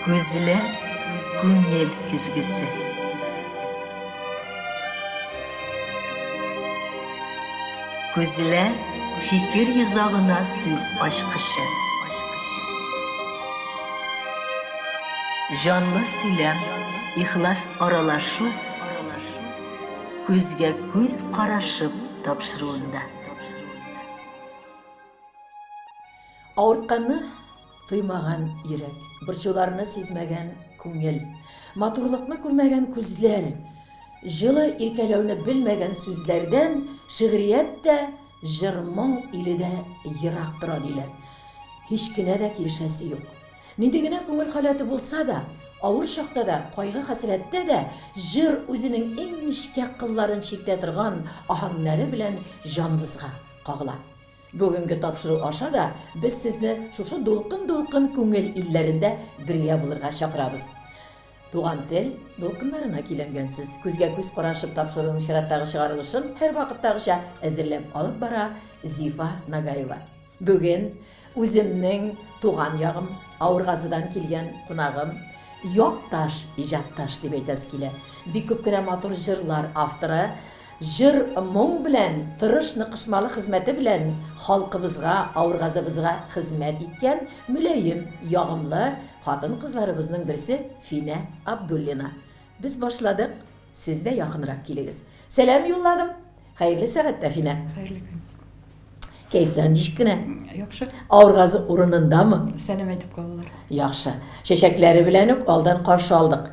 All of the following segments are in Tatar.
Күзләр күңел көзгесе. Күзләр фикер йозагына сүз ачкычы. Җанлы сөйләм, ихлас аралашу, күзгә күз карашып тапшыруында. Авыртканны тоймаган йөрәк. Борчуларны сизмәгән күңел. Матурлыкны күрмәгән күзләр. Җылы иркәләүне белмәгән сүзләрдән шигърият тә, җыр-моң иле дә ерак тора, диләр. Һич кенә дә килешәсе юк. Нинди генә күңел халәте булса да, авыр чакта да, кайгы-хәсрәттә дә җыр үзенең иң нечкә кылларын чиктә торган аһәңнәре белән җаныбызга кагыла. Бүгенге тапшыру аша да без сезне шушы дулкын-дулкын күңел илләрендә бергә булырга чакырабыз. Туган тел дулкыннарына көйләнгәнсез. Күзгә-күз карашып тапшыруның чираттагы чыгарылышын һәрвакыттагыча әзерләп алып бара Зифа Нагаева. Бүген үземнең туган ягым, Авыргазыдан килгән кунагым, якташ, иҗатташ дип әйтәсе килә. Бик күп кенә матур җырлар авторы. Җыр-моң белән, тырыш ныкышмалы хезмәте белән халкыбызга, авыргазыбызга хезмәт иткән мөлаем, ягымлы хатын-кызларыбызның берсе Финә Абдуллина. Без башладык, сез дә якынрак килегез. Сәлам юлладым. Хәерле сәгатьтә, Финә. Хәерле көн. Кәефләр ничек кенә? Яхшы. Авыргазы урынындамы? Сәлам әйтеп калалар. Яхшы. Чәчәкләре белән үк алдан каршы алдык.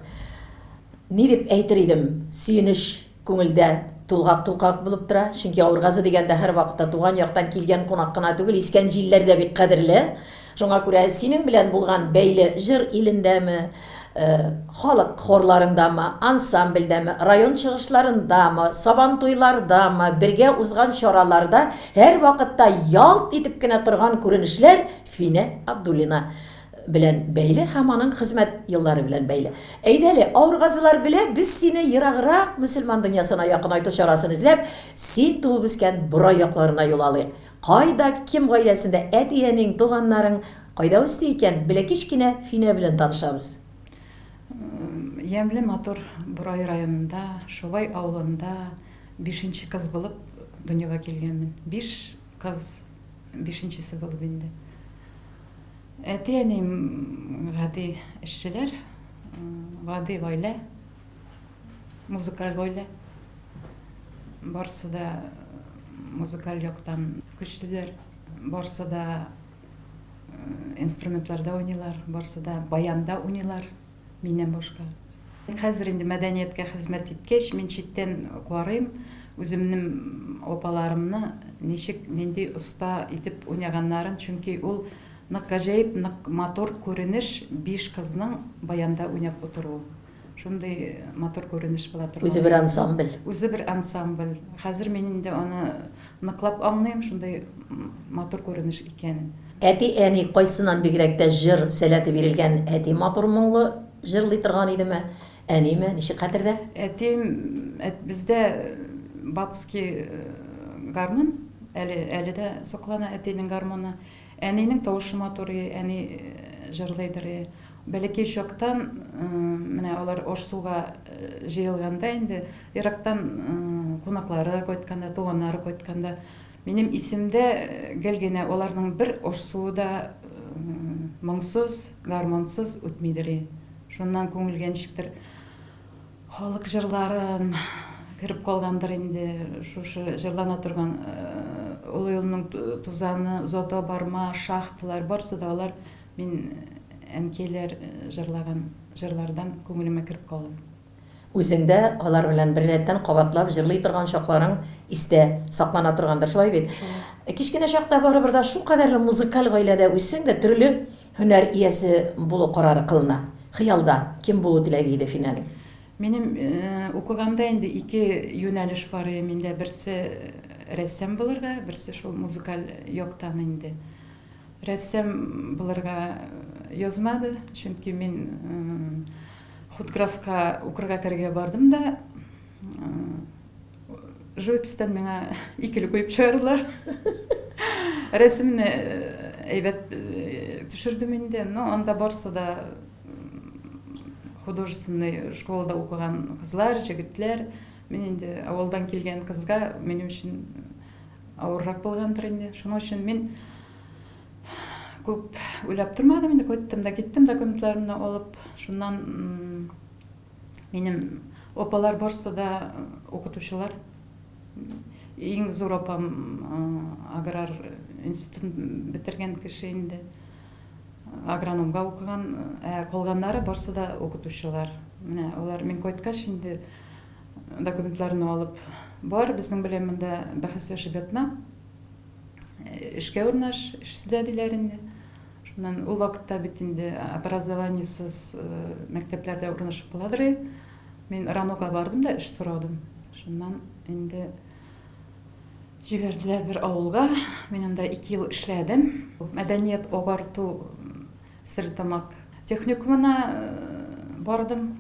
Ни дип әйтер идем, сөенеч Күңелдә тулгак-тулкак булып тора, чөнки Авыргазы дигәндә һәрвакытта туган яктан килгән кунак кына түгел, искән җилләр дә бик кадерле. Шуңа күрә синең белән булган бәйле җыр илендәме, халык хорларыңдамы, ансамбльдәме, район чыгышларындамы, сабантуйлардамы, бергә узган чараларда һәрвакытта ялт итеп кенә торган күренешләр Финә Абдуллина. Белән бәйле һәм аның хезмәт еллары белән бәйле. Әйдә әле, авыр газылар белә, без сине ераграк мөселман дөньясына якынайту чарасын эзләп, син туып үскән Борай якларына юл алыйк. Кайда, кем гаиләсендә әти-әниң, туганнарың кайда үсте икән, белә кечкенә Финә белән танышабыз. Ямьле матур Борай районында, Шубай авылында бишенче кыз булып дөньяга килгәнмен. Биш кыз, бишенчесе булып инде. Әти-әнием гади эшчеләр, гади гаилә, музыкаль гаилә. Барысы да музыкаль яктан көчлеләр, барысы да инструментларда уйныйлар, барысы да баянда уйныйлар. миннән башка. Хәзер инде мәдәнияткә хезмәт иткәч, мин читтән карыйм, үземнем апаларымны ничек, нинди оста итеп уйнаганнарын, чөнки ул нык гаҗәеп, нык матур күренеш биш кызның баянда уйнап утыруы. Шундый матур күренеш була торган. Үзе бер ансамбль. Үзе бер ансамбль. Хәзер мин инде аны Ныклап аңлыйм шундый матур күренеш икәнен. Әти әни кайсыннан бигрәк тә җыр сәләте бирелгән әти матур моңлы җырлый торган идеме әниме ничек хәтердә? Әтим әт бездә батский гармун әле әле дә соклана әтинең гармуны. Әнинең тавышы матур и, әни җырлыйдыр и. Бәләкәй чактан, менә алар Аш-суга җыелганда инде, ерактан кунаклары кайтканда, туганнары кайтканда, минем исемдә гел генә аларның бер Аш-суы да моңсыз, гармунсыз үтмидер и. Шуннан күңелгә ничектер Халык җырларын кереп калгандыр инде шушы җырлана торган Олы юлның тузаны, Зото барма, Шахталар, барсы да алар мин әнкәйләр җырлаган җырлардан күңелемә кереп калган. Үзеңдә алар белән беррәттән кабатлап җырлый торган чакларың истә саклана торгандыр, шулай бит? Кечкенә чакта барыбер да шулкадәрле музыкаль гаиләдә үссәң дә, төрле Һөнәр иясе булу карары кылына. Хыялда кем булу теләге иде Финәнең? Минем укыганда инде ике юнәлеш бар иде миндә. Берсе рәссам булырга, берсе шул музыкаль яктан инде. Рәссам булырга язмады, чөнки мин худграфка укырга керергә бардым да, Живопистан миңа икеле куеп чыгардылар. Рәсемне әйбәт төшердем инде, но анда барсы да художественный школада укыган кызлар, җегетләр. Мин инде авылдан килгән кызга минем өчен авыррак булгандыр инде. Шуның өчен мин күп уйлап тормадым инде, кайттым да киттем документларымны алып, шуннан Минем апалар барсы да укытучылар. Иң зур апам аграр институтын бетергән кеше инде. Агрономга укыган, ә калганнары барсы да укытучылар. Менә алар мин кайткач инде документларны алып бар, безнең белән монда бәхәсләшеп ятма. Эшкә урнаш, эшсез дә диләр инде. Шуннан ул вакытта бит инде образованиесыз мәктәпләрдә урнашып каладыр и. Мин РАНОга бардым да эш сорадым. Шуннан инде җибәрделәр бер авылга. Мин анда ике ел эшләдем. Мәдәният агарту Стерлетамак техникумына бардым,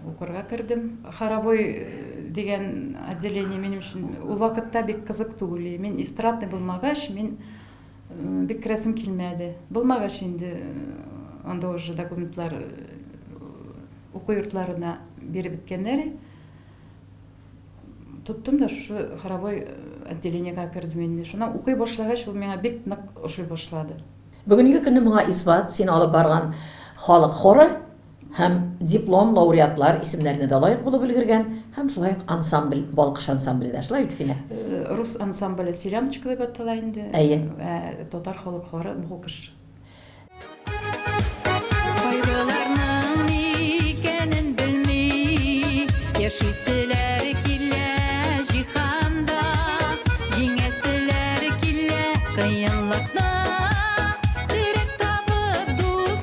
укырга кердем. Хоровой дигән отделение минем өчен ул вакытта бик кызык түгел и. Мин эстрадный булмагач, мин Бик керәсем килмәде. Булмагач инде анда уже документлар уку йортларына биреп беткәннәр. Тоттым да шушы хоровой отделениега кердем инде. Шуннан укый башлагач, ул миңа бик нык ошый башлады. Бүгенге көнне моңа исбат, син алып барган халык хоры һәм диплом лауреатлар исемнәренә дә лаек булып өлгергән, һәм шулай ук ансамбль, Балкыш ансамбле дә, шулай бит, Финә? Рус ансамбле Селяночка дип атала инде. Әйе. Ә татар халык хоры Балкыш. Кайгыларның ни икәнен белми яшиселәр килә җиһанда, җиңәселәр килә кыенлыкны, терәк табып дус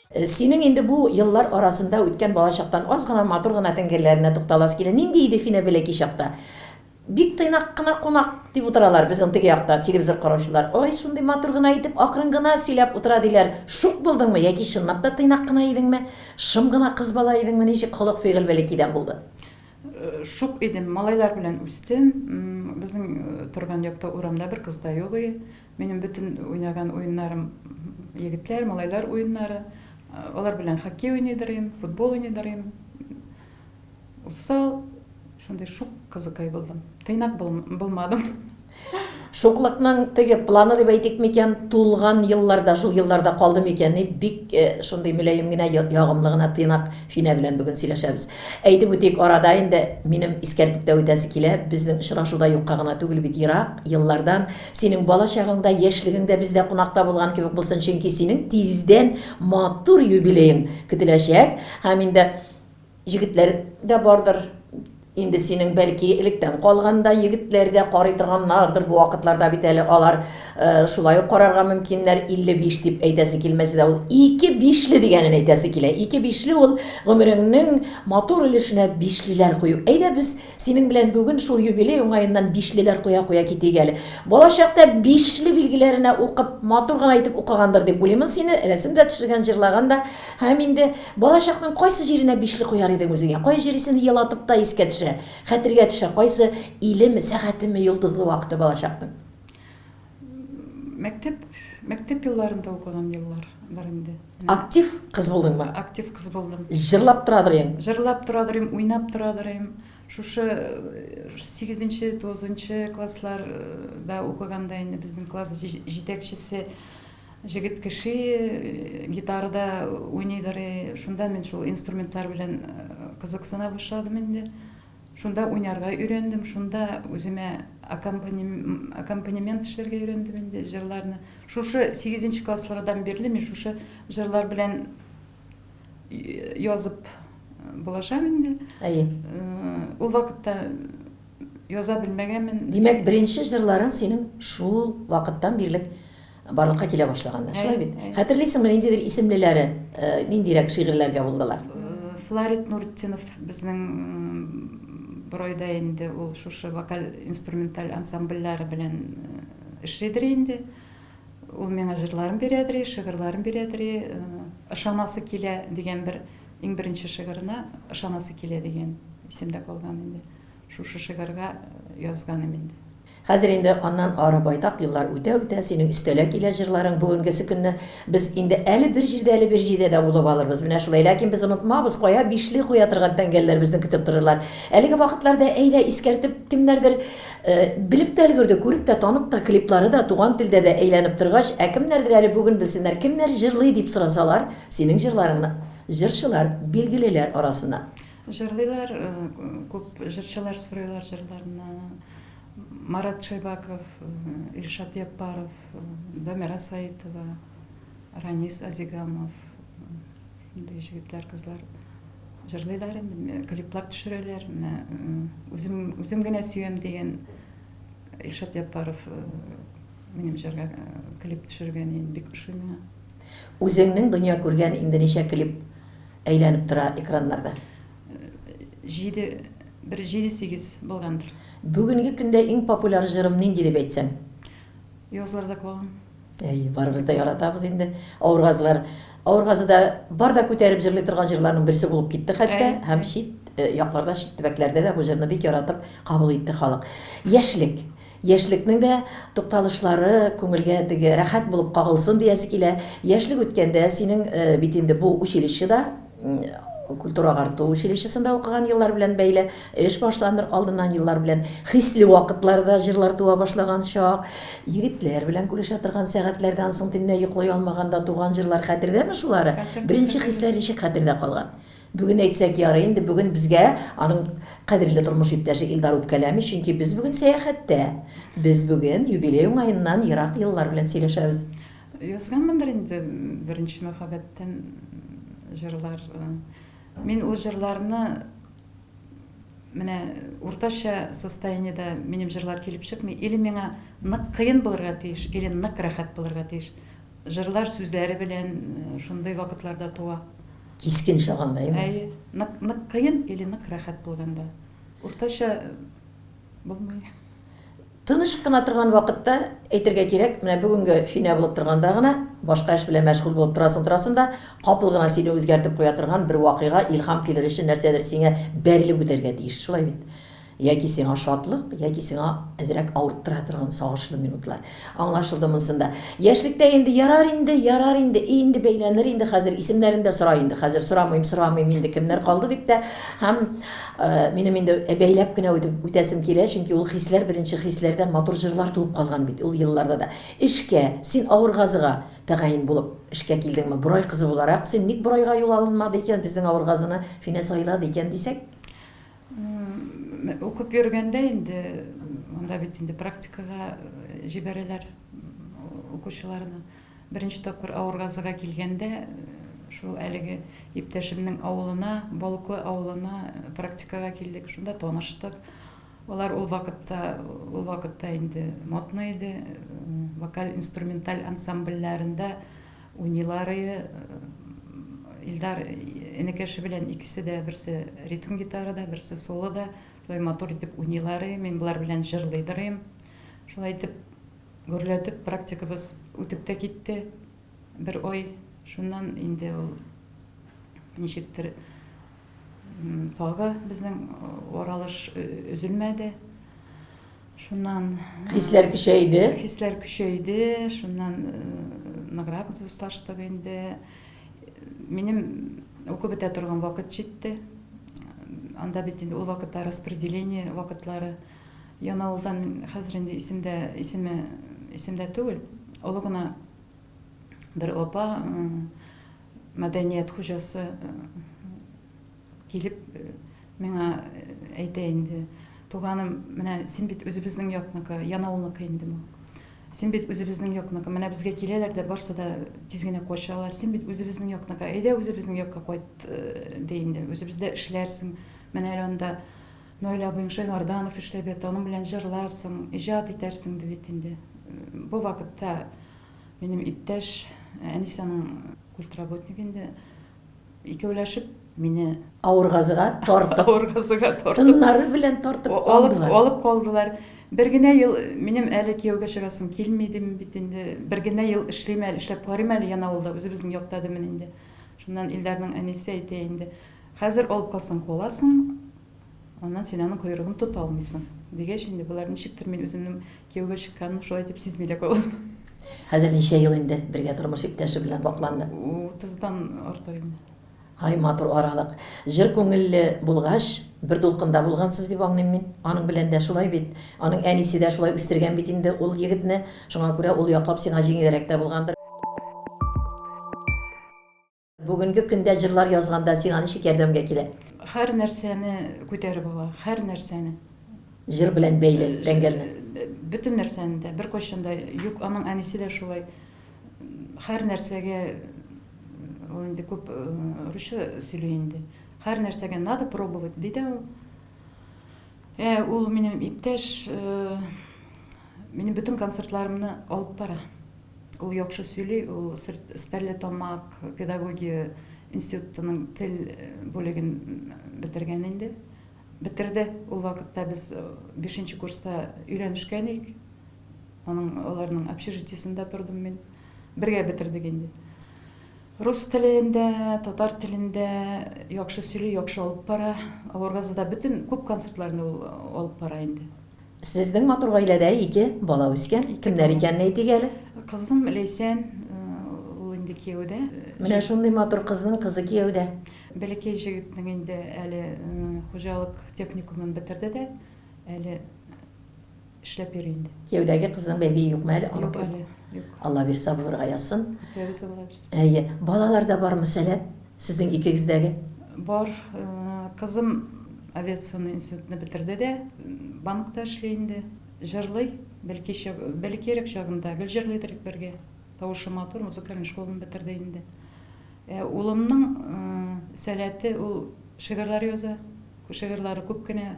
Синең инде бу еллар арасында үткән балачактан аз гына матур гына тәңгәлләренә тукталасы килә. Нинди иде Финә бәләкәй чакта? Бик тыйнак кына кунак дип утыралар безнең теге якта телевизор караучылар. Ай, шундый матур гына итеп, акрын гына сөйләп утыра, диләр. Шук булдыңмы яки чынлап та тыйнак кына идеңме? Шым гына кыз бала идеңме? Ничек холык-фигыль бәләкәйдән булды? Шук идем. Малайлар белән үстем. Безнең торган якта урамда бер кыз да юк иде. Минем бөтен уйнаган уеннарым егетләр, малайлар уеннары. Алар белән хоккей уйный дырыйм, футбол уйный дырыйм. Усал, шундый шук кызыкай булдым. Тыйнак булмадым. Шуклыкның теге планы дип әйтик микән, тулган елларда, шул елларда калды микән, дип бик э, шундый мөлаем генә, ягымлы гына тыйнак Финә белән бүген сөйләшәбез. Әйтеп үтик, арада инде минем искәртеп тә үтәсе килә, безнең очрашуда юкка гына түгел бит, ерак еллардан Синең бала чагың да, яшьлегең дә бездә кунакта булган кебек булсын, чөнки синең тиздән матур юбилеең көтеләчәк һәм инде егетләр дә бардыр инде синең, бәлки, электән калган да егетләр дә карый торганнардыр, бу вакытларда бит әле алар шулай ук карарга мөмкиннәр, 55 дип әйтәсе килмәсә дә, ул ике бишле дигәнен әйтәсе килә, ике бишле ул гомереңнең матур өлешенә бишлеләр кую, әйдә без Синең белән бүген шул юбилей уңаеннан бишлеләр куя-куя китик әле. Балачакта бишле билгеләренә укып, матур гына итеп укыгандыр дип уйлыймын сине, рәсем дә төшергән, җырлаган да. Һәм инде балачакның кайсы җиренә бишле куяр идең үзеңә? Кай җире сине елатып та искә төшә, хәтергә төшә? Кайсы илеме, сәгатеме, йолдызлы вакыты балачакның? Мәктәп, мәктәп елларында укыган еллар бар инде. Актив кыз булдыңмы? Актив кыз булдым. Җырлап торадыр идең? Җырлап торадыр идем, уйнап торадыр идем. Шушы 8-нче, 9-нчы классларда укыганда инде безнең класс җитәкчесе җегет кеше э, гитарада уйныйдыр, э, шунда мин шул инструментлар белән э, кызыксына башладым инде. Шунда уйнарга өйрәндем, шунда үземә аккомпанемент эшләргә өйрәндем инде, җырларны. Шушы 8 нче класслардан бирле мин шушы җырлар белән язып булашам инде. Әйе. Ул вакытта яза белмәгәнмен. Димәк, беренче җырларың синең шул вакыттан бирле Барлыкка килә башлаганнар, шулай бит? Хәтерлисеңме, ниндидер исемлеләре, ниндирәк шигырьләргә булдылар? Фларит Нуртдинов безнең борайда инде ул шушы вокаль-инструменталь ансамбльләре белән эшлидер инде. Ул миңа җырларын бирәдер, шигырьләрен бирәдер. Ышанасы килә дигән бер иң беренче шигырына Ышанасы килә дигән исемдә калган инде. Шушы шигырьгә язган инде. Хәзер инде аннан ары байтак еллар үтә-үтә, синең өстәлә килә җырларың, бүгенгесе көнне без инде әле бер җирдә, әле бер җирдә дә булып алырбыз, менә шулай. Ләкин без онытмабыз, кая бишле куя торган тәңгәлләр безне көтеп торырлар. Әлеге вакытларда, әйдә, искәртеп, кемнәрдер белеп тә өлгерде, күреп тә, танып та, клиплары да, туган телдә дә әйләнеп торгач, ә кемнәрдер әле бүген белсеннәр, кемнәр җырлый, дип сорасалар, синең җырларыңны җырчылар, билгелеләр арасыннан. Җырлыйлар, күп җырчылар сорыйлар җырларны. Марат Шәйбаков, Илшат Яппаров, Дамира Саитова, Ранис Азигамов, мондый җегетләр, кызлар җырлыйлар инде, клиплар төшерәләр. Менә үзем, үзем генә сөям дигән Илшат Яппаров минем җырга клип төшергән, бик ошый миңа. Үзеңнең дөнья күргән инде ничә клип Әйләнеп тора экраннарда. Җиде, бер җиде-сигез булгандыр. Бүгенге көндә иң популяр җырым нинди дип әйтсәң? Язларда калам. Әй, барыбыз да яратабыз инде. Авыргазылар, Авыргазыда бар да күтәреп җырлый торган җырларның берсе булып китте хәтта һәм чит якларда, чит төбәкләрдә дә бу җырны бик яратып кабул итте халык. Яшьлек. Яшьлекнең дә тукталышлары күңелгә теге рәхәт булып кагылсын диясе килә. Яшьлек үткәндә синең бит инде бу училищеда, культура-агарту училищесында укыган еллар белән бәйле, эш башланыр алдыннан еллар белән хисле вакытларда җырлар туа башлаган чак, егетләр белән күрешә торган сәгатьләрдән соң төнлә йоклый алмаганда туган җырлар хәтердәме шулары? Беренче хисләр ничек хәтердә калган? Бүген әйтсәк ярый инде, бүген безгә аның кадерле тормыш иптәше Илдар үпкәләми, чөнки без бүген сәяхәттә. Без бүген юбилей уңаеннан ерак еллар белән сөйләшәбез. Язганмындыр инде беренче мәхәббәттән җырлар. Мин ул җырларны менә уртача состояниедә минем җырлар килеп чыкмый. Или миңа нык кыен булырга тиеш, или нык рәхәт булырга тиеш. Җырлар сүзләре белән шундый вакытларда туа. Кискен чагында, әйеме? Әйе. Нык, нык кыен или нык рәхәт булганда. Уртача булмый. Тыныч кына торган вакытта, әйтергә кирәк, менә бүгенге Финә булып торганда гына, башка эш белән мәшгуль булып торасың-торасың да, капыл гына сине үзгәртеп куя торган бер вакыйга, илһам килер өчен нәрсәдер сиңа бәрелеп үтәргә тиеш. Шулай бит? Яки сиңа шатлык, яки сиңа әзрәк авырттыра торган сагышлы минутлар. Аңлашылды монсында. Яшьлектә инде ярар инде, ярар инде, и инде бәйләнер инде хәзер, исемнәрен дә сора инде хәзер, сорамыйм, сорамыйм инде кемнәр калды дип тә. Һәм минем инде бәйләп кенә үтәсем килә, чөнки ул хисләр беренче хисләрдән матур җырлар туып калган бит ул елларда да. Эшкә, син Авыргазыга тәгаен булып эшкә килдеңме? Борай кызы буларак син ник Борайга юл алынмады икән, безнең Авыргазыны Финә сайлады икән дисәк? Укып йөргәндә инде монда бит инде практикага җибәрәләр укучыларны. Беренче тапкыр Авыргазыга килгәндә шул әлеге иптәшемнең авылына, Балыклы авылына практикага килдек, шунда таныштык. Алар ул вакытта, ул вакытта инде модно иде, вокаль-инструменталь ансамбльләрендә Уйныйлар и Илдар энекәше белән икесе дә берсе ритм гитарада, берсе солода. Шулай матур итеп уйныйлар и мин болар белән җырлыйдыр им. Шулай итеп гөрләтеп практикабыз үтеп тә китте бер ай. Шуннан инде ул ничектер Тагы безнең аралыш өзелмәде. Шуннан хисләр көчәйде. Хисләр көчәйде. Шуннан ныграк дуслаштык инде. Минем укып бетә торган вакыт җитте. Анда бит инде ул вакытта распределение вакытлары. Янаулдан хәзер инде исемдә исеме исемдә түгел. Олы гына бер апа Мәдәният хуҗасы килеп миңа әйтә инде, Туганым, менә син бит үзебезнең якныкы, Янаулныкы инде бу. Син бит үзебезнең якныкы, менә безгә киләләр дә, барсы да тиз генә качалар. Син бит үзебезнең якныкы, әйдә үзебезнең якка кайт, ди инде. Үзебездә эшләрсең, менә әле анда Наил абыең Шәймарданов эшләп ята, аның белән җырларсың, иҗат итәрсең, ди бит инде. Бу вакытта Минем иптәш Әнисәнең культработник инде. Икәүләшеп мине авыргазыга тартып, авыргазыга тартып, тыннары белән тартып алдылар. Алып калдылар. Бер генә ел минем әле кияүгә чыгасым килми дим бит инде. Бер генә ел эшлим әле, эшләп карыйм әле яна авылда, үзебезнең якта димин инде. Шуннан Илдарның әнисе әйтә инде. Хәзер алып калсаң каласың, Аннан син аның койрыгын тота алмыйсың. Дигәч инде, болар ничектер мин үземнең кияүгә чыкканым шулай дип сизми дә калам. Хәзер ничә ел инде бергә тормыш иптәше белән вакланды? Утыздан артык инде. Һай, матур аралык. Җыр күңелле булгач, бер дулкында булгансыз дип аңлыйм мин. Аның белән дә шулай бит. Аның әнисе дә шулай үстергән бит инде ул егетне. Шуңа күрә ул яклап сиңа җиңелрәк тә булгандыр. Бүгенге көндә җырлар язганда сиңа ничек ярдәмгә килә? Һәр нәрсәне күтәреп ала, һәр нәрсәне. Җыр белән бәйле э, тәңгәлне. Э, бөтен нәрсәне дә беркайчан да юк, аның әнисе дә шулай. Һәр нәрсәгә ул инде күп э, русча сөйли инде. Һәр нәрсәгә надо пробовать ди дә ул. Ә ул минем иптәш, минем бөтен концертларымны алып бара. Ул яхшы сөйли, ул Стәрлетамак педагогия институтының тел бүлеген бетергән инде. Бетерде. Ул вакытта без 5 курста өйләнешкән идек. Аның аларның общежитиесендә тордым мин. Бергә бетердек инде. Рус телеендә, татар телендә яхшы сөйли, яхшы алып бара. Аваргазыда бөтен күп концертларны ул алып бара инде. Сезнең матур гаиләдә ике бала үскән. Кемнәр икәнен әйтик әле. Кызым Ләйсән, ул инде кияүдә. Менә шундый матур кызның кызы кияүдә. Бәләкәй җегетнең инде әле хуҗалык техникумын бетерде дә, әле. эшләп йөри инде. Кияүдәге кызның бәбие юкмы әле? Юк әле, юк. Алла бирса булырга язсын. Үтәбез Алла бирса. Әйе. Балалар да бармы сәләт? Сезнең икегездәге? Бар. Э, кызым авиационный институтны бетерде дә, банкта эшли инде. Җырлый. Бәлки бәлкирәк чагында гел җырлый идек бергә. Тавышы матур, музыкальный школаны бетерде инде. Э, улымның э, сәләте ул шигырьләр яза. Шигырьләре күп кенә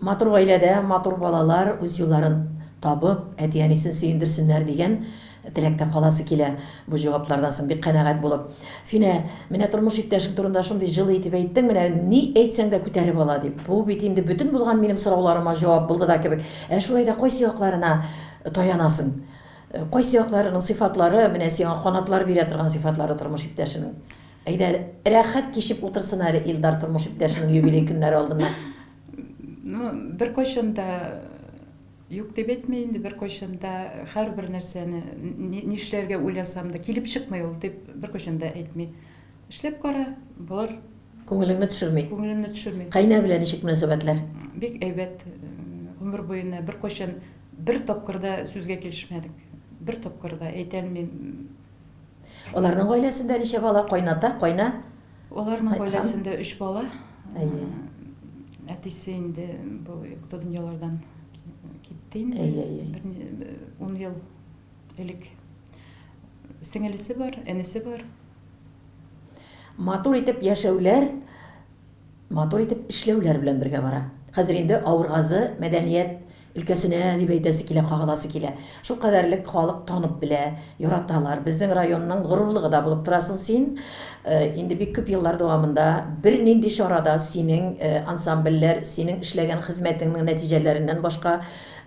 Матур гаиләдә матур балалар үз юлларын табып, әти-әнисен сөендерсеннәр, дигән теләктә каласы килә бу җаваплардан соң бик канәгать булып. Финә, менә тормыш иптәшең турында шундый җылы итеп әйттең, менә ни әйтсәң дә күтәреп ала, дип. Бу бит инде бөтен булган минем сорауларыма җавап булды да кебек. Ә шулай да кайсы якларына таянасың? Кайсы якларының сыйфатлары менә сиңа канатлар бирә торган сыйфатлары тормыш иптәшенең? Әйдә, рәхәт кичеп утырсын әле Илдар тормыш иптәшенең юбилей көннәре алдыннан. Ну, беркайчан да юк дип әйтми инде, беркайчан да һәрбер нәрсәне нишләргә уйласам да килеп чыкмый ул дип беркайчан да әйтми. Эшләп кара, булыр. Күңелеңне төшерми. Күңелемне төшерми. Кайнә белән ничек мөнәсәбәтләр? Бик әйбәт. Гомер буена беркайчан бер тапкыр да сүзгә килешмәдек. Бер тапкыр да әйтәлмим. Аларның гаиләсендә ничә бала? Кайната, кайна? Аларның гаиләсендә өч бала. Әйе. Әтисе инде бу юкта дөньялардан китте инде. Әйе, әйе. 10 ел элек. Сеңелесе бар, энесе бар. Матур итеп яшәүләр Матур итеп эшләүләр белән бергә бара. Хәзер инде Авыргазы мәдәният өлкәсенә дип әйтәсе килә, кагыласы килә. Шул кадәрлек халык танып белә, яраталар. Безнең районның горурлыгы да булып торасың син. Инде бик күп еллар дәвамында бернинди чара да синең ансамбльләр, синең эшләгән хезмәтеңнең нәтиҗәләреннән башка,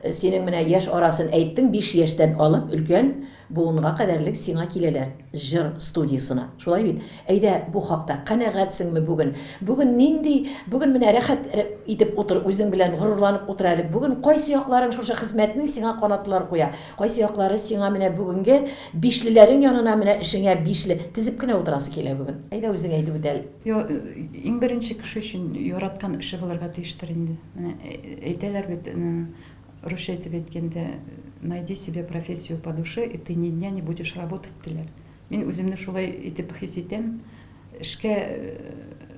синең менә яшь арасын әйттең, биш яшьтән алып өлкән Буынга кадәрлек сиңа киләләр җыр студиясына. Шулай бит? Әйдә, бу хакта, канәгатьсеңме бүген? Бүген нинди, бүген менә рәхәт итеп утыр, үзең белән горурланып утыр әле. Бүген кайсы якларың шушы хезмәтнең сиңа канатлар куя? Кайсы яклары сиңа менә бүгенге бишлеләрең янына менә эшеңә бишле тезеп кенә утырасы килә бүген? Әйдә, үзең әйтеп үт әле. Йо, иң беренче кеше өчен яраткан эше булырга тиештер инде. Менә әйтәләр бит, Русча итеп әйткәндә, найди себе профессию по душе, и ты ни дня не будешь работать, диләр. Мин үземне шулай итеп хис итәм. Эшкә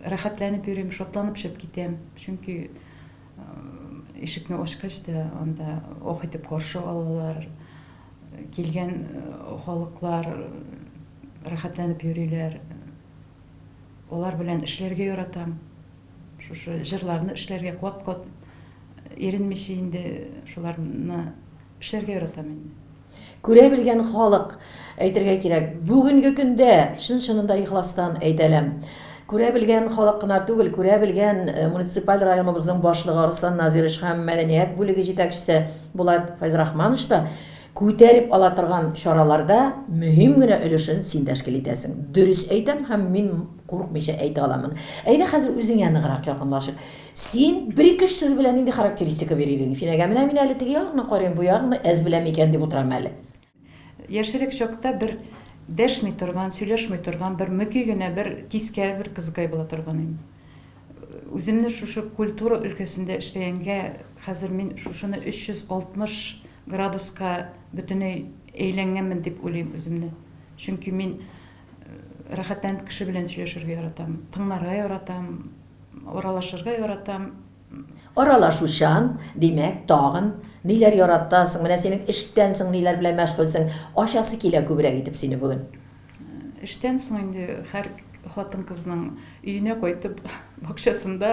рәхәтләнеп йөрим, шатланып чыгып китәм. Чөнки ишекне ачкач та, анда ох итеп каршы алалар. Килгән халыклар рәхәтләнеп йөриләр. Алар белән эшләргә яратам. Шушы җырларны эшләргә, кат-кат Иренмичә инде шуларны эшләргә яратам инде. Күрә белгән халык, әйтергә кирәк, бүгенге көндә, чын-чынында ихластан әйтәләм, күрә белгән халык кына түгел, күрә белгән муниципаль районыбызның башлыгы Арслан Назирович һәм мәдәният бүлеге җитәкчесе Булат Фәйзрахманович та күтәреп ала торган чараларда мөһим генә өлешен син тәшкил итәсең. Дөрес әйтәм һәм мин курыкмыйча әйтә аламын. Әйдә хәзер үзеңә ныграк якынлашыйк. Син бер-ике-өч сүз белән нинди характеристика бир идең Финәгә? Менә мин әле теге ягны карыйм, бу ягны әз беләм икән дип утырам әле. Яшьрәк чакта бер дәшми торган, сөйләшми торган, бер мөки генә, бер кискә бер кызыкай була торган идем. Үземне шушы культура өлкәсендә эшләгәнгә, хәзер мин шушыны 360 градуска бөтенләй әйләнгәнмен дип уйлыйм үземне. Чөнки мин рәхәтләнеп кеше белән сөйләшергә яратам, тыңларга яратам. Аралашырга яратам. Аралашучан, димәк, тагын ниләр яратасың? Менә синең эштән соң ниләр белән мәшгульсең? Ачасы килә күбрәк итеп сине бүген. Эштән соң инде һәр хатын-кызның өенә кайтып, бакчасында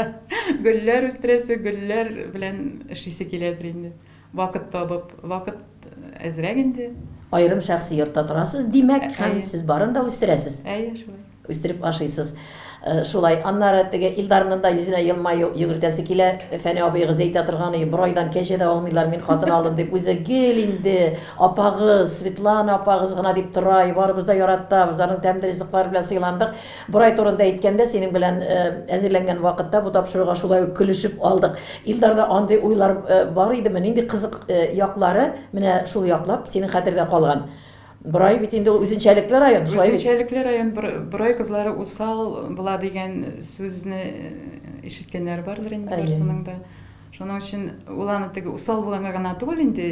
гөлләр үстерәсе, гөлләр белән эшлисе киләдер инде. Вакыт табып, вакыт әзрәк инде. Аерым шәхси йортта торасыз, димәк, һәм сез барын да үстерәсез. Әйе, шулай. Үстереп ашыйсыз. Шулай. Аннары теге Илдарның да йөзенә елмаю йөгертәсе килә. Фәни абыегыз әйтә торган, и, борайдан кәҗә дә алмыйлар, мин хатын алдым дип, үзе гел инде апагыз, Светлана апагыз гына дип тора, и, барыбыз да яратабыз, аның тәмле ризыклары белән сыйландык. Борай турында әйткәндә, синең белән әзерләнгән вакытта бу тапшыруга шулай ук көлешеп алдык. Илдарда андый уйлар бар идеме? Нинди кызык яклары менә шул яклап синең хәтердә калган? Борай бит инде ул үзенчәлекле район, шулай бит? Үзенчәлекле район, Борай кызлары усал була дигән сүзне ишеткәннәр бардыр инде барсының да. Шуның өчен ул аны теге усал булганга гына түгел инде,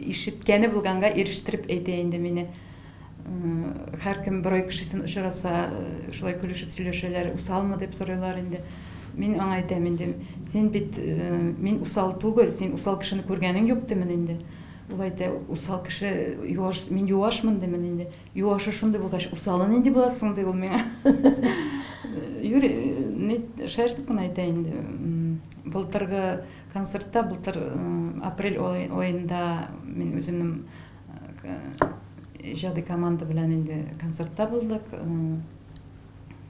ишеткәне булганга ирештереп әйтә инде мине. Һәркем берай кешесен очраса, шулай көлешеп сөйләшәләр, усалмы дип сорыйлар инде. Мин аңа әйтәм инде, син бит мин усал түгел, син усал кешене күргәнең юк димен инде. Ул әйтә, усал кеше юаш, мин юашмын димен инде. Юашы шундый булгач, усалы нинди буласың ди ул миңа. Юри, ни шаяртып кына әйтә инде. Былтыргы концертта, былтыр апрель аенда мин үземнең Иҗади команда белән инде концертта булдык.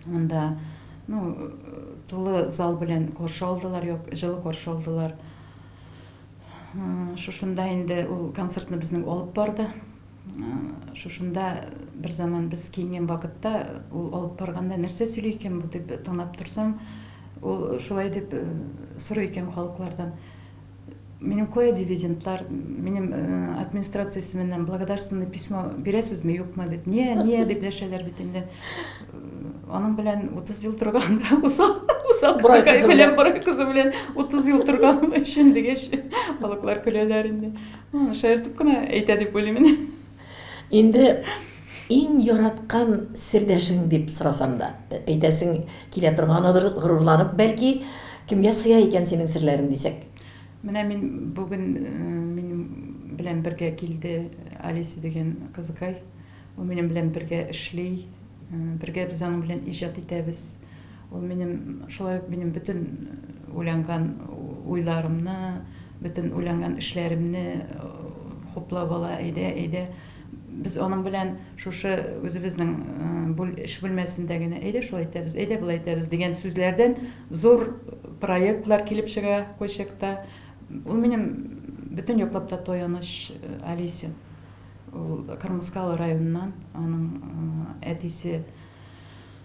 Анда ну, тулы зал белән каршы алдылар, юк, җылы каршы алдылар. Шушында инде ул концертны безнең алып барды. Шушында бер заман без киенгән вакытта ул алып барганда нәрсә сөйли икән бу дип тыңлап торсам, ул шулай дип сорый икән халыклардан. Минем кая дивидендлар, минем администрация исеменнән благодарственный письмо бирәсезме, юкмы дип. Не, не дип дәшәләр бит инде. Аның белән 30 ел торганда усал, усал кызыкай белән бер кызы белән 30 ел торганым өчен дигәч, балыклар көләләр инде. Шаяртып кына әйтә дип уйлыйм инде. Инде иң яраткан сердәшең дип сорасам да, әйтәсең килә торганадыр, горурланып, бәлки, кемгә сыя икән синең серләрең дисәк? Менә мин бүген минем белән бергә килде Алиса дигән кызыкай. Ул минем белән бергә эшли, бергә без аның белән иҗат итәбез. Ул минем, шулай ук минем бөтен уйланган уйларымны, бөтен уйланган эшләремне хуплап ала, әйдә, әйдә. Без аның белән шушы үзебезнең эш бүлмәсендә генә әйдә шулай итәбез, әйдә болай итәбез дигән сүзләрдән зур проектлар килеп чыга кайчакта. Ул минем бөтен яклап та таяныч Алисин. Ул Кырмыскалы районыннан, аның әтисе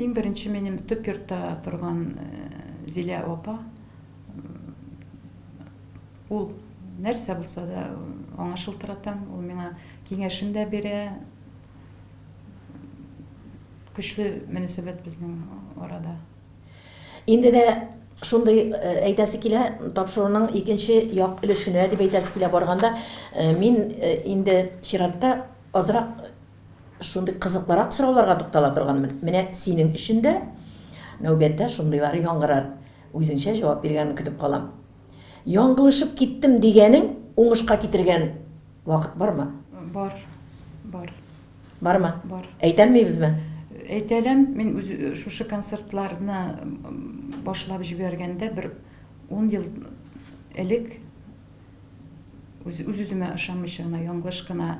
Иң беренче минем төп йортта торган Зилә апа, ул нәрсә булса да аңа шылтыратам, ул миңа киңәшен дә бирә. Көчле мөнәсәбәт безнең арада. Инде дә шундый әйтәсе килә, тапшыруның икенче як өлешенә дип әйтәсе килә барганда, мин инде чиратта азрак Шундый кызыклырак сорауларга туктала торган менә синең өчен дә нәүбәттә шундыйлары яңгырар. Үзеңчә җавап биргәнен көтеп калам. Яңгылышып киттем дигәнең уңышка китергән вакыт бармы? Бар. Бар. Бармы? Бар. Әйтәлмибезме? Әйтәләм, мин үз шушы концертларны башлап җибәргәндә бер 10 ел элек үз-үземә ышанмыйча гына, яңгылыш кына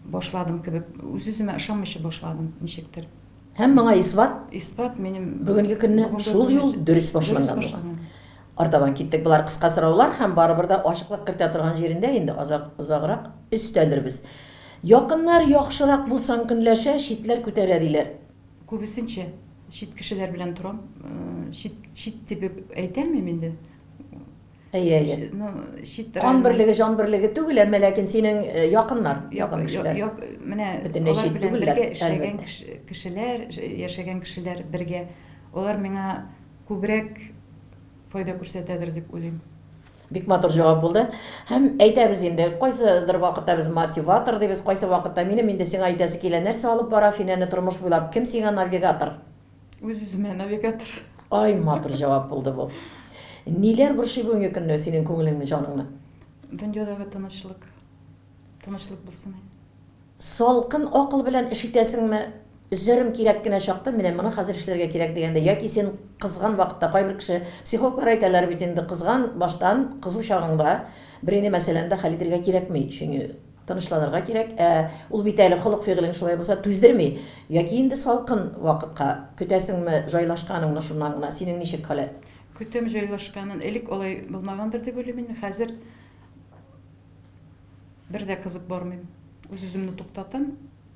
башладым кебек, үз-үземә ышанмыйча башладым, ничектер. Һәм моңа исбат? Исбат минем бүгенге көнне шул юл дөрес башланган булган. Артабан киттек. Болар кыска сораулар һәм барыбер дә ачыклык кертә торган җирендә инде азак озаграк өстәлербез. Якыннар яхшырак булсаң көнләшә, читләр күтәрә диләр. Күбесенчә чит кешеләр белән торам. Чит чит дип әйтәлмим инде. Әйе, әйе. Ну, чит район. Кан берлеге, җан берлеге түгел, әмма ләкин синең э, якыннар, якын кешеләр. Як, менә бөтенләй алар белән бергә эшләгән кешеләр, яшәгән кешеләр бергә. Алар миңа күбрәк файда күрсәтәдер дип уйлыйм. Бик матур җавап булды. Һәм әйтәбез инде, кайсыдыр вакытта без мотиватор дибез, кайсы вакытта минем инде сиңа әйтәсе килә, нәрсә алып бара Финәне тормыш буйлап, кем сиңа навигатор? Үз-үземә навигатор. Ай, матур җавап булды бу. Ниләр борчый бүгенге көнне синең күңелеңне, җаныңны? Дөньядагы тынычлык. Тынычлык булсын. Салкын акыл белән эш итәсеңме? Өзәрем кирәк кенә чакта, менә моны хәзер эшләргә кирәк дигәндә, яки син кызган вакытта, кайбер кеше, психологлар әйтәләр бит инде, кызган баштан, кызу чагыңда бернинди мәсьәләне дә хәл итәргә кирәкми, чөнки Тынычланырга кирәк. Ә ул бит әле холык-фигылең шулай булса түздерми. Яки инде салкын вакытка көтәсеңме җайлашканыңны шуннан гына? Синең ничек халәт? Көтәм җайлашканын. Элек алай булмагандыр дип уйлыйм инде. Хәзер бер дә кызып бармыйм. Үз-үземне туктатам.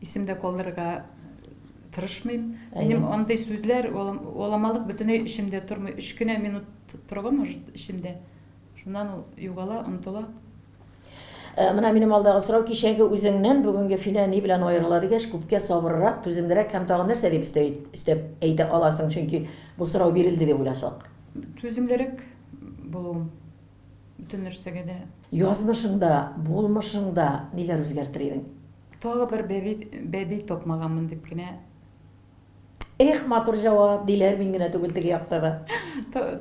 Исем дә калдырырга тырышмыйм. Минем андый сүзләр, уламалык бөтенләй эчемдә тормый. Өч кенә минут торга может эчемдә. Шуннан ул югала, онтыла. Э, менә минем алдагы сорау, кичәге үзеңнән бүгенге Филә ни белән аерыла дигәч, күпкә сабыррак, түземлерәк һәм тагын нәрсә дип өстә өстәп әйтә аласың, чөнки бу сорау бирелде дип уйласак. Түземлерәк булуым бөтен нәрсәгә дә. Язмышыңда, булмышыңда ниләр үзгәртер идең? Тагы бер бәби бәби тапмаганмын дип кенә. Эх, матур җавап, диләр мин генә түгел теге якта да.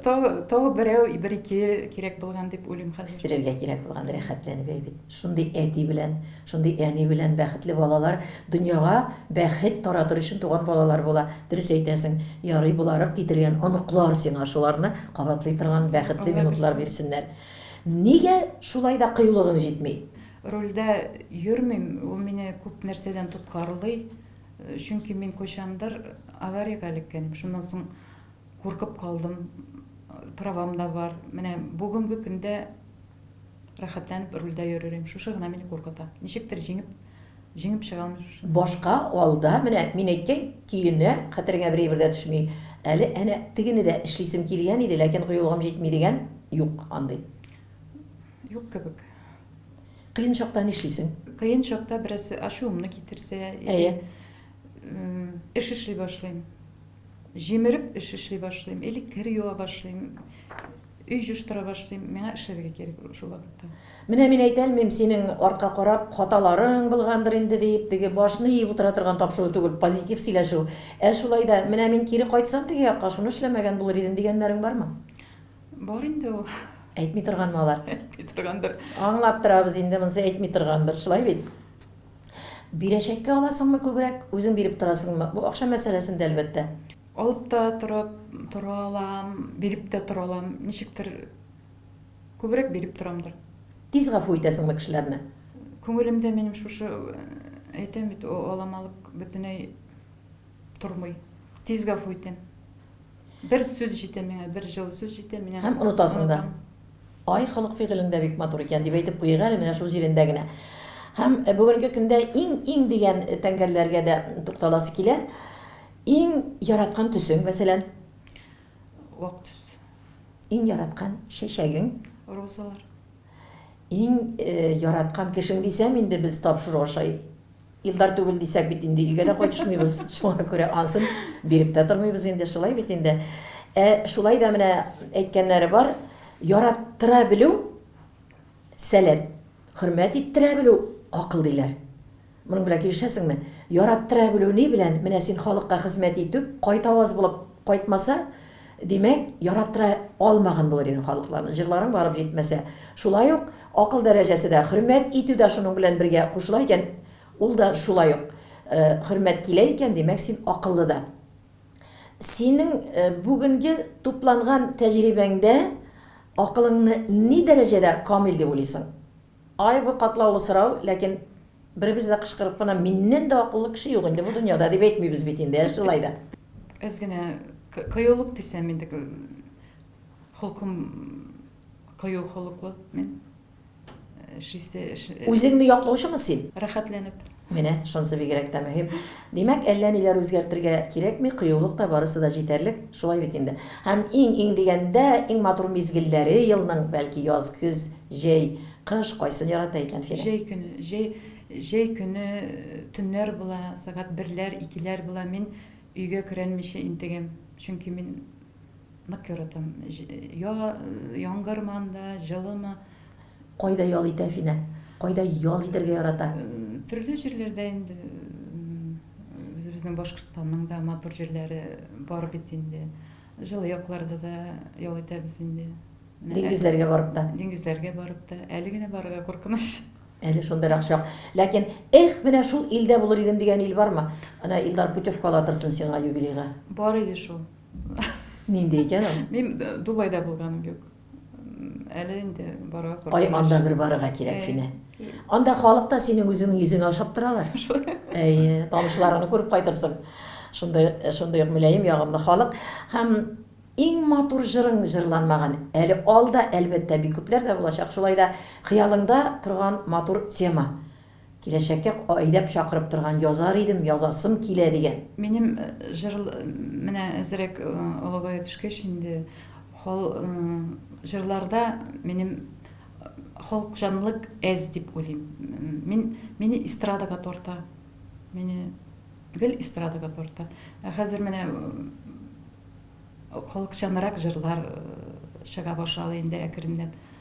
Тагы берәү, бер-ике кирәк булган дип уйлыйм хәзер. Үстерергә кирәк булган, рәхәтләнеп әйбит. Шундый әти белән, шундый әни белән бәхетле балалар дөньяга бәхет таратыр өчен туган балалар була. Дөрес әйтәсең, ярый боларып китергән оныклар сиңа шуларны кабатлый торган бәхетле минутлар бирсеннәр. Нигә шулай да кыюлыгың җитми? Рольдә йөрмим, ул мине күп нәрсәдән тоткарлый. Чөнки мин кайчандыр авариягә эләккән идем. Шуннан соң куркып калдым. Правам да бар. Менә бүгенге көндә рәхәтләнеп рульдә йөрерим. Шушы гына мине куркыта. Ничектер җиңеп, җиңеп чыга алмыйм шушы. Башка алда, менә мин әйткән көенә хәтереңә берәйбер дә төшми. Әле әнә тегене дә эшлисем килгән иде, ләкин кыюлыгым җитми дигән, юк андый. Юк кебек. Кыен чакта нишлисең? Кыен чакта бераз ачуымны китерсә, әйе, эш эшли башлыйм. Җимереп эш эшли башлыйм, или кер юа башлыйм, өй җыштыра башлыйм. Миңа эшләргә кирәк шул вакытта. Менә мин әйтә алмыйм, синең артка карап хаталарың булгандыр инде дип, теге башны иеп утыра торган тапшыру түгел, позитив сөйләшү. Ә шулай да, менә мин кире кайтсам теге якка, шуны эшләмәгән булыр идем, дигәннәрең бармы? Бар инде ул. Әйтми торганмы алар? Әйтми торгандыр. Аңлап торабыз инде, монысы әйтми торгандыр, шулай бит. Бирәчәккә аласыңмы күбрәк, үзең биреп торасыңмы? Бу акча мәсьәләсендә, әлбәттә. Алып та торып тора алам, биреп тә тора алам. Ничектер күбрәк биреп торамдыр. Тиз гафу итәсеңме кешеләрне? Күңелемдә минем шушы, әйтәм бит, аламалык бөтенләй тормый. Тиз гафу итәм. Бер сүз җитә миңа, бер җылы сүз җитә, мин аны Һәм онытасың да. онытам. Ай, халык фигылең дә бик матур икән, дип әйтеп куйыйк әле менә шул җирендә генә. Һәм э, бүгенге көндә иң-иң дигән э, тәңгәлләргә дә тукталасы килә. Иң яраткан төсең, мәсәлән, Вак төс. иң яраткан чәчәгең, Розалар. Иң яраткан кешең дисәм инде без тапшыру аша Илдар түгел дисәк бит инде өйгә дә кайтышмыйбыз, шуңа күрә ансын биреп тә тормыйбыз инде, шулай бит инде. Ә шулай да менә әйткәннәре бар, яраттыра белү, сәләт, хөрмәт иттерә белү, акыл, диләр. Моның белән килешәсеңме? Яраттыра белү ни белән? Менә син халыкка хезмәт итү кайтаваз булып кайтмаса, димәк, яраттыра алмаган булыр идең халыкларны. Җырларың барып җитмәсә. Шулай ук акыл дәрәҗәсе дә, хөрмәт итү дә шуның белән бергә кушыла икән, ул да шулай ук хөрмәт килә икән, димәк, син акыллы да. Синең бүгенге тупланган тәҗрибәңдә акылыңны ни дәрәҗәдә камил дип уйлыйсың? Ай, бу катлаулы сорау, ләкин беребез дә кычкырып кына миннән дә акыллы кеше юк инде бу дөньяда дип әйтмибез бит инде, ә шулай да. Без генә кыюлык дисәм инде, холкым кыю холыклы мин. Эш исе, эш. Үзеңне яклаучымы син? Рәхәтләнеп. Менә шунсы бигрәк тә мөһим. Димәк, әллә ниләр үзгәртергә кирәкми, кыюлык та, барысы да җитәрлек, шулай бит инде. Һәм иң-иң дигәндә, иң матур мизгелләре елның, бәлки, яз, көз, җәй, кыш, кайсын ярата икән Фирә? Җәй көне, җәй, җәй көне төннәр була, сәгать берләр, икеләр була, мин өйгә көрәнмичә интегәм, чөнки мин. Нык яратам. Я, яңгырманда, җылымы. Кайда ял итә Финә? Кайда ял итәргә ярата? Төрле җирләрдә инде. Үзебезнең Башкортстанның да матур җирләре бар бит инде. Җылы якларда да ял итәбез инде. Диңгезләргә барып та. Диңгезләргә барып та. Әле генә барырга куркыныч. Әле шундыйрак чак. Ләкин, эх, менә шул илдә булыр идем дигән ил бармы? Ана Илдар путевка ала торсын сиңа юбилейга. Бар иде шул. Нинди икән ул? Мин э, Дубайда булганым юк. М, Әле инде барырга Ай, куркыныч. анда бер барырга кирәк, Әй. Финә. Анда халык та синең үзеңнең йөзеңә ошап торалар. Әйе, танышларыңны күреп кайтырсың. Шундый, шундый ук мөлаем, ягымлы халык. Һәм иң матур җырың җырланмаган. Әле алда, әлбәттә, бик күпләр дә булачак. Шулай да хыялыңда торган матур тема. Киләчәккә айдап чакырып торган Язар идем, язасым килә дигән. Минем җыр менә әзрәк олыгая төшкәч инде хал җырларда минем халыкчанлык әз дип уйлыйм. Мин мине эстрадага тарта. Мине гел эстрадага тарта. Ә хәзер менә халыкчанрак җырлар чыга башлады инде әкренләп.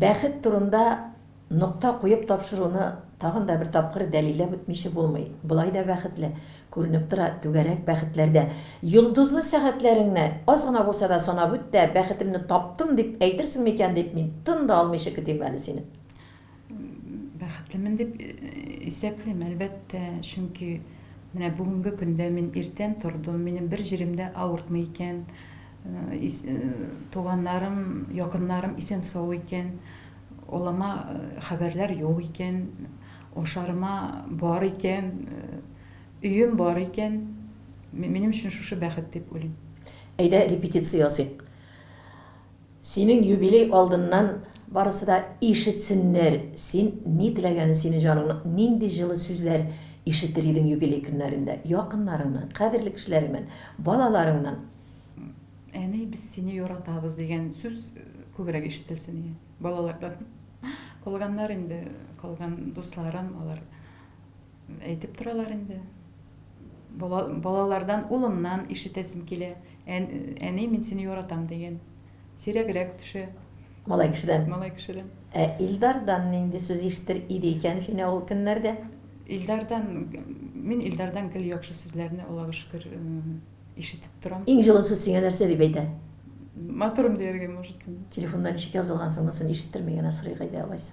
Бәхет турында нокта куеп тапшыруны тагын да бер тапкыр дәлилләп үтмичә булмый. Болай да бәхетле, күренеп тора, түгәрәк бәхетләрдә. Йолдызлы сәгатьләреңне аз гына булса да санап үт тә, бәхетемне таптым дип әйтерсең микән дип, мин тын да алмыйча көтим әле сине. Бәхетлемен дип исәплим, әлбәттә, чөнки менә бүгенге көндә мин иртән тордым, минем бер җирем дә авыртмый икән, туганнарым, якыннарым исән-сау икән, олыма хәбәрләр юк икән, ашарыма бар икән, өем бар икән, минем өчен шушы бәхет дип уйлыйм. Әйдә, репетиция ясыйк. Синең юбилей алдыннан барысы да ишетсеннәр, син ни теләгәнен, синең җаныңның нинди җылы сүзләр ишетер идең юбилей көннәрендә, якыннарыңнан, кадерле кешеләреңнән, балаларыңнан. Әни, без сине яратабыз, дигән сүз күбрәк ишетелсен иде балалардан. Калганнар инде, калган дусларым, алар. Әйтеп торалар инде. Бала, балалардан, улымнан ишетәсем килә. Ән, әни, мин сине яратам дигән. Сирәгрәк төшә. Малай кешедән. Малай кешедән. Ә Илдардан нинди сүз ишетер иде икән Финә ул көннәрдә? Илдардан, мин Илдардан гел яхшы сүзләрне, Аллага шөкер, ишетеп торам. Иң җылы сүз сиңа нәрсә дип әйтә? Матурым дияргә, может. Телефонда ничек язылган соң, монысын ишеттерми генә сорыйк әйдә алайса.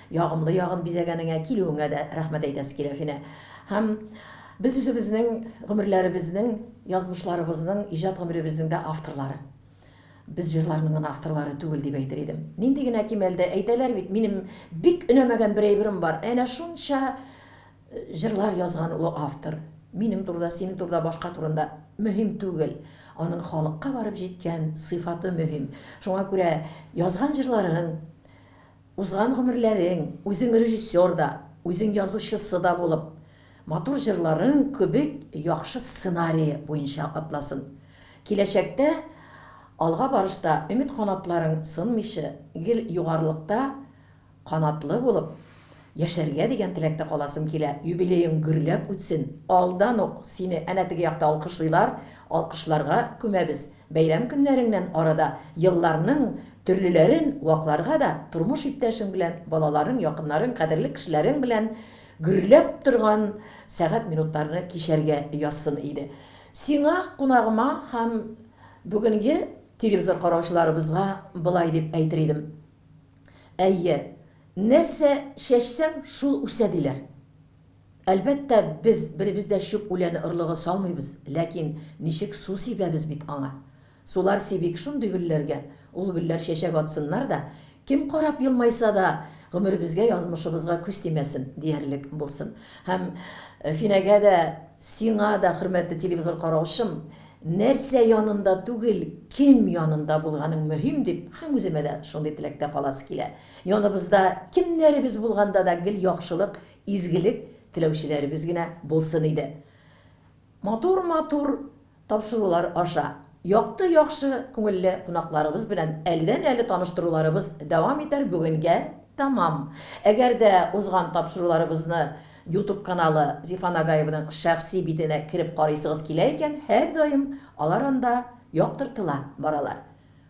Ягымлы ягын бизәгәнеңә, килүеңә дә рәхмәт әйтәсе килә, Финә. Һәм без үзебезнең гомерләребезнең, язмышларыбызның, иҗат гомеребезнең дә авторлары. Без җырларның гына авторлары түгел, дип әйтер идем. Нинди генә кимәл дә, әйтәләр бит, минем бик өнәмәгән бер әйберем бар, әнә шунча җырлар язган ул автор. Минем турыда, синең турыда, башка турында мөһим түгел. Аның халыкка барып җиткән сыйфаты мөһим. Шуңа күрә язган җырларың Узган гомерләрең, үзең режиссер да, үзең язучысы да булып, матур җырларың кебек яхшы сценарие буенча атласын. Киләчәктә алга барышта өмет канатларың сынмыйчы, гел югарылыкта канатлы булып яшәргә дигән теләктә каласым килә. Юбилеең гөрләп үтсен. Алдан ук сине әнә теге якта алкышлыйлар, алкышларга күмәбез. Бәйрәм көннәреңнән арада елларның төрлеләрен вакларга да, тормыш иптәшең белән, балаларың, якыннарың, кадерле кешеләрең белән гөрләп торган сәгать-минутларны кичәргә язсын иде. Сиңа, кунагыма һәм бүгенге телевизор караучыларыбызга болай дип әйтер идем, Әйе, нәрсә чәчсәң, шул үсә, диләр. Әлбәттә, без беребез дә чүп үләне орлыгы салмыйбыз, ләкин ничек су сибәбез бит аңа. Сулар сибик шундый гөлләргә, ул гөлләр чәчәк атсыннар да, кем карап елмайса да, гомеребезгә, язмышыбызга күз тимәсен, диярлек булсын. Һәм Финәгә дә, сиңа да, хөрмәтле телевизор караучым, нәрсә янында түгел, кем янында булганың мөһим дип, һәм үземә дә шундый теләктә каласы килә. Яныбызда кемнәребез булганда да гел яхшылык, изгелек теләүчеләребез генә булсын иде. Матур-матур тапшырулар аша, якты, яхшы күңелле кунакларыбыз белән әледән-әле таныштыруларыбыз дәвам итәр Бүгенгә тәмам. Әгәр дә узган тапшыруларыбызны Ютуб каналы Зифа Нагаеваның шәхси битенә кереп карыйсыгыз килә икән, һәрдаим алар анда яктыртыла баралар.